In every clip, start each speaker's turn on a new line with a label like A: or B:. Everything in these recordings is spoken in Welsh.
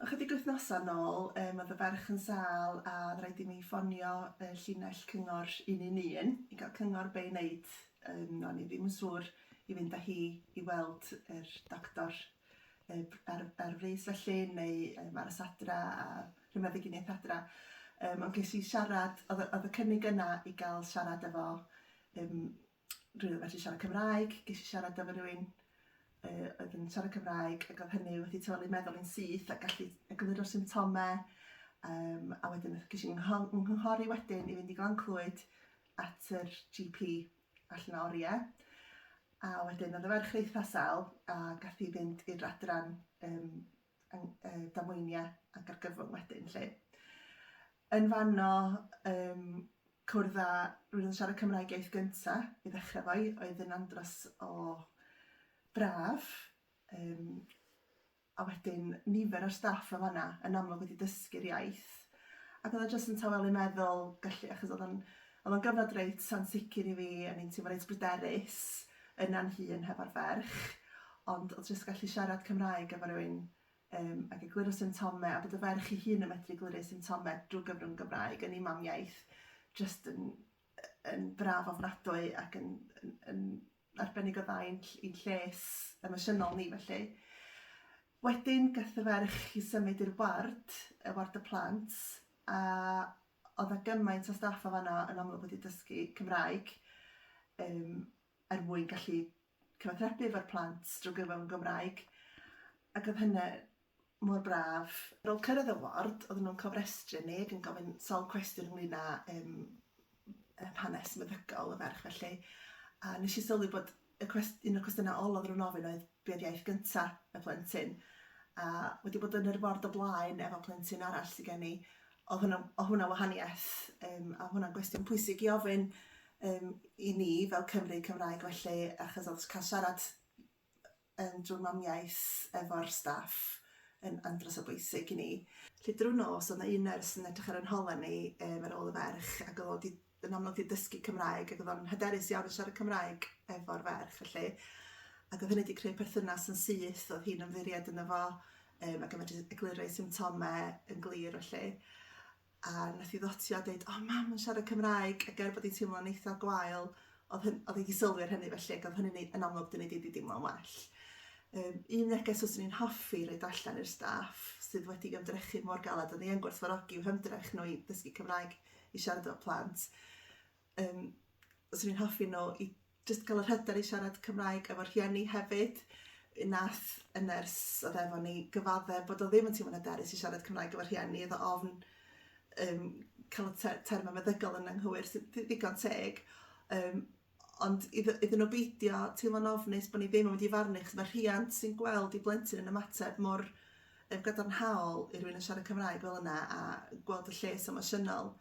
A: Ychydig wythnosau nôl yym oedd y ferch yn sâl a oedd rhaid i mi ffonio y llinell cyngor 111 i gael cyngor be' i wneud yym o'n i ddim yn siŵr i fynd â hi i weld yr doctor yy ar ar frys felly neu yym aros adra a rhyw meddyginiaeth adra yym ond ges i siarad oedd y oedd y cynnig yna i gael siarad efo yym rwy'n yn medru siarad Cymraeg, ges i siarad efo rhywun uh, oedd yn siarad Cymraeg ac oedd hynny wedi teulu meddwl yn syth a gallu egluro'r symptomau um, a wedyn ges i'n nghynghori wedyn i fynd i Glan Clwyd at yr GP allan o oriau a wedyn oedd y ferch reith asel a gath i fynd i'r adran um, uh, damweiniau ac argyfwng wedyn lle. Yn fanno, um, Cwrdd â rywun yn siarad Cymraeg iaith gynta', i ddechre 'fo i, oedd yn andros o braf, yym a wedyn nifer o'r staff yn fan'na yn amlwg wedi dysgu'r iaith, ac oedd o jyst yn tawelu meddwl gallu, achos oedd o'n oedd o'n gyfnod reit ansicr i fi, o'n i'n teimlo reit bryderus yna'n hun hefo'r ferch, ond oedd jyst gallu siarad Cymraeg efo rywun um, ac egluro symptomau, a bod y ferch ei hun yn medru egluro symptomau drwy gyfrwng Gymraeg yn ei mamiaeth, jyst yn, yn braf ofnadwy ac yn, yn, yn arbennig o dda i'n, i'n lles emosiynol ni felly. Wedyn gath y ferch i symud i'r ward, y ward y plant, a oedd a gymaint o staff o fanna yn amlwg wedi dysgu Cymraeg um, er mwyn gallu cyfathrebu efo'r plant drwy gyfrwng yn Gymraeg ac oedd hynna mor braf. Ar ôl cyrraedd y ward oedden nhw'n cofrestru ni ac yn gofyn sawl cwestiwn ynglyn â yym yym hanes meddygol y ferch felly a nes i sylwi bod y cwest- un o'r cwestiynau ola oedden nhw'n ofyn oedd be oedd iaith gynta y plentyn a wedi bod yn yr ward o blaen efo plentyn arall sy gen i Oedd hwnna, oedd hwnna wahaniaeth, um, a hwnna'n gwestiwn pwysig i ofyn um, i ni fel Cymru Cymraeg felly, achos oedd cael siarad yn drwy mamiaeth efo'r staff yn andros o bwysig i ni. Lle drwy nos, oedd yna un nyrs yn edrych ar yn holen ni um, ar ôl y ferch, ac oedd o wedi yn anodd i ddysgu Cymraeg ac oedd o'n hyderus iawn yn siarad Cymraeg efo'r ferch felly ac oedd hynny wedi creu perthynas yn syth, oedd hi'n ymddiried yn efo um, ac yn medru egluro ei symptomau yn glir felly. A nath i ddotio a dweud, o oh, mam yn siarad Cymraeg ac er bod hi'n teimlo'n eitha gwael, oedd, hyn, oedd wedi sylwi ar hynny felly ac oedd hynny'n yn amlwg dyn ni wedi deimlo'n well. Um, un neges os ni'n hoffi roed allan i'r staff sydd wedi ymdrechu mor galed, a ni yn gwerthfarogi i'w hymdrech nhw i ddysgu Cymraeg i siarad efo plant. Um, os o'n i'n hoffi nhw i just cael yr hyder i siarad Cymraeg efo rhieni hefyd. Un nath y nyrs oedd efo ni gyfadde bod o ddim yn teimlo'n hyderus i siarad Cymraeg efo rhieni, efo ofn um, cael y termau meddygol yn anghywir, sy'n ddigon teg. Um, ond idd- iddyn nhw beidio teimlo'n ofnus bod ni ddim yn mynd i farnu achos mae rhiant sy'n gweld ei blentyn yn ymateb mor yym gadarnhaol i rywun yn siarad Cymraeg fel yna a gweld y lles emosiynol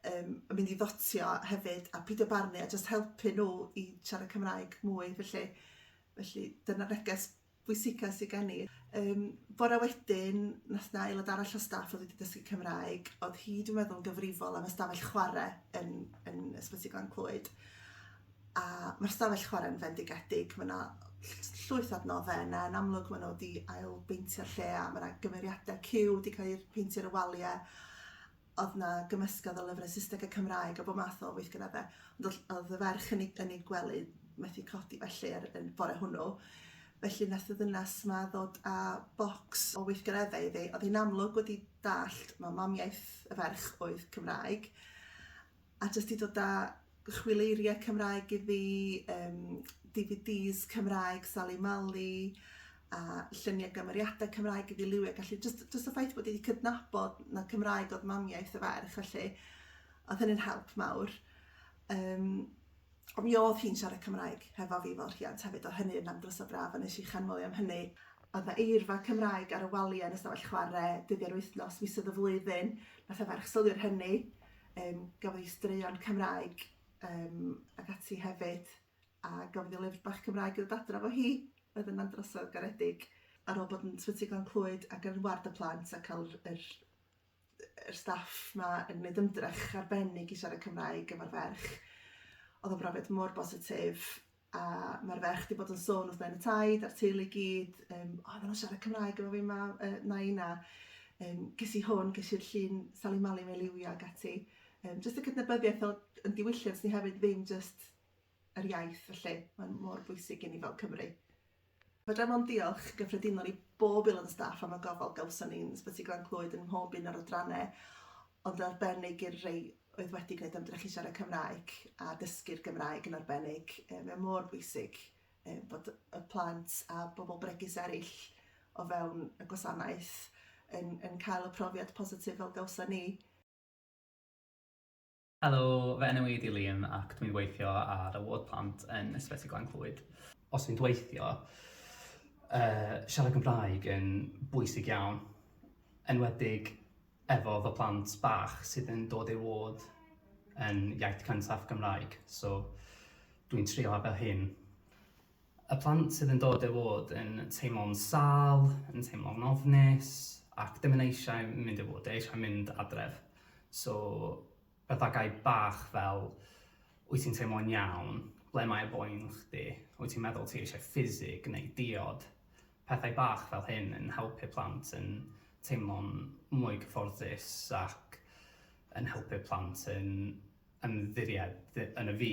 A: yym yn mynd i ddotio hefyd a pidio barnu a jyst helpu nhw i siarad Cymraeg mwy felly felly dyna'r neges bwysica sy gen i. Yym bore wedyn nath 'na aelod arall o staff oedd wedi dysgu Cymraeg, oedd hi dwi'n meddwl yn gyfrifol am ystafell chwarae yn yn Ysbyty Glan Clwyd. A mae'r stafell chwarae'n fendigedig, mae 'na llwyth o adnoddau yna, yn amlwg maen nhw wedi ail beintio'r lle a mae 'na gymeriadau cyw wedi cael eu peintio ar y waliau. oedd yna gymysgedd o lyfrau Saesneg a Cymraeg a bod math o weithgareddau. Ond oedd y ferch yn ei, yn ei gwely methu codi felly ar y bore hwnnw. Felly nath y ddynas ma ddod â bocs o weithgareddau iddi. Oedd hi'n amlwg wedi dallt, mae mamiaith y ferch oedd Cymraeg. a jyst i dod â chwileiriau Cymraeg iddi, um, DVDs Cymraeg Sali Mali, a lluniau gymeriadau Cymraeg iddi liwiau, gallu, jyst, jyst y ffaith bod wedi cydnabod na Cymraeg oedd mamiaeth y ferch, felly, oedd hynny'n help mawr. Um, Ond mi o'dd hi'n siarad Cymraeg hefo fi fel rhiant hefyd o hynny o'dd am drysa braf a nesh i chanmol 'i am hynny. O'dd 'na eirfa Cymraeg ar y walia yn y stafell chware, dyddie'r wythnos, misoedd y flwyddyn, nath y ferch sylwi ar hynny, yym gafodd 'i straeon Cymraeg yym ag ati hefyd a gafodd 'i lyfr bach Cymraeg i ddod adra 'fo hi, oedd yna'n drosodd garedig ar ôl bod yn Sbyty Glan Clwyd ac yn ward y plant a ca'l yr yr yr staff 'ma yn gwneud ymdrech arbennig i siarad Cymraeg efo'r ferch. Oedd o'n brofiad mor bositif a mae'r ferch wedi bod yn sôn wrth nain y taid a'r teulu i gyd, um, o, maen nhw'n siarad Cymraeg efo fi ma, uh, nain a um, ges i hwn, ges i'r llun Sally Mali mae liwio ac ati. Um, just y cydnabyddiaeth o, yn diwylliant ni hefyd ddim just yr iaith felly, mae'n mor bwysig i ni fel Cymry. Fedrem ond diolch yn gyffredinol i bob aelod o staff am y gofal gawson ni yn Ysbyty Glan Clwyd yn mhob un o'r adrannau, ond yn arbennig i'r rei oedd wedi gwneud ymdrech i siarad Cymraeg a dysgu'r Gymraeg yn arbennig. E, mae mor bwysig e, bod y plant a bobl bregus eraill o fewn y gwasanaeth yn, yn cael y profiad positif fel gawson ni. Helo, fy enw i ydi Liam ac dwi'n gweithio ar y ward plant yn Ysbyty Glan Clwyd. Os fi'n gweithio, yy siarad Cymraeg yn bwysig iawn, enwedig efo fy plant bach sydd yn dod i'r ward yn iaith cyntaf Gymraeg, so dwi'n trio ar fy hun. Y plant sydd yn dod i fod yn teimlo'n sâl, yn teimlo'n ofnus ac ddim yn eisiau mynd i fod, eisiau mynd adref. So, pethau bach fel, wyt ti'n teimlo'n iawn, ble mae boen chdi, wyt ti'n meddwl ti eisiau ffisig neu diod. Pethau bach fel hyn yn helpu'r plant yn teimlo'n mwy cyfforddus ac yn helpu'r plant yn ymddiried yn y fi.